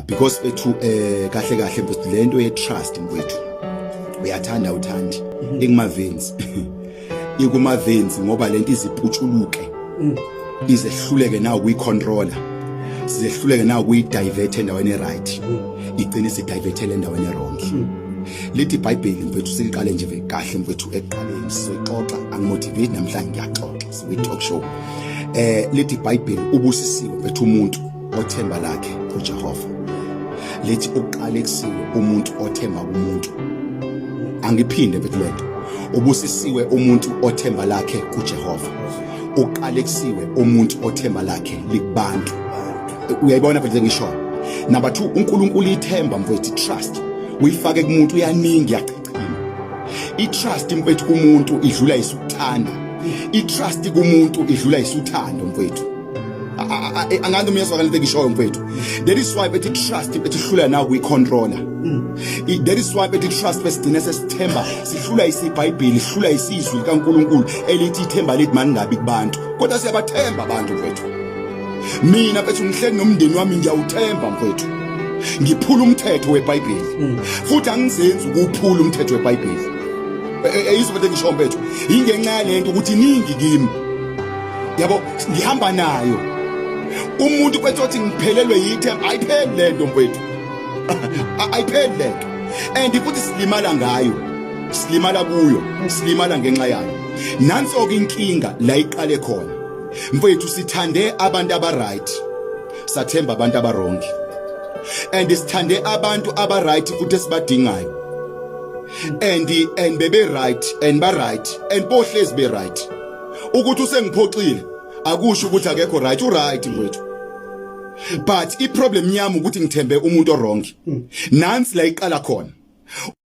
because bethu eh kahle kahle mfethu lento ye trust mfethu uyathanda uthandi mhm. ikuma veins ikuma veins ngoba lento iziputshuluke mm. izehluleke nawo kuyi controller sizehluleke nawo kuyi divert endaweni right mm. igcine si divert endaweni wrong mm. lithi ibhayibheli mfethu siliqale nje kahle mfethu eqaleni sizoyixoxa angimotivate namhlanje ngiyaxoxa siyi talk show eh lithi ibhayibheli ubusisiwe mfethu umuntu Othemba lakhe uJehova lithi uqala ekusile umuntu othemba kumuntu. Angiphinde mfethu lento. Ubusisiwe umuntu othemba lakhe kuJehova. Uqala ekusile umuntu othemba lakhe likubantu. Uyayibona mfethu ngisho. Number 2 uNkulunkulu ithemba mfethu trust. Uyifake kumuntu uyaningi i-trust mfethu kumuntu idlula isukuthanda i-trust kumuntu idlula isuthando mfethu angathi umyezwa kanti ngishoyo mfethu that is why bethi trust bethi hlula nawo kuyicontroller mm. that is why bethi trust besigcine sesithemba sihlula isibhayibheli sihlula isizwi likaNkuluNkulu elithi ithemba lithi maningabi kubantu kodwa siyabathemba abantu mfethu mina bethu ngihleli nomndeni wami ngiyawuthemba mfowethu ngiphula umthetho webhayibheli mm. futhi angizenzi ukuphula umthetho webhayibheli eyizo e, e, into engisho mfowethu ingenxa yalento ukuthi iningi kimi yabo ngihamba nayo umuntu kwethu othi ngiphelelwe yithemba ayipheli lento mfowethu ayipheli lento and futhi silimala ngayo silimala kuyo silimala ngenxa yayo nanso ke inkinga la iqale khona mfethu sithande abantu abaright sathemba abantu abarongi and sithande abantu abaright futhi esibadingayo and and bebe right and ba right and bohlezi be right ukuthi usengiphoxile akusho ukuthi akekho right u right mfethu but i problem yami ukuthi ngithembe umuntu o wrong hmm. nansi la iqala khona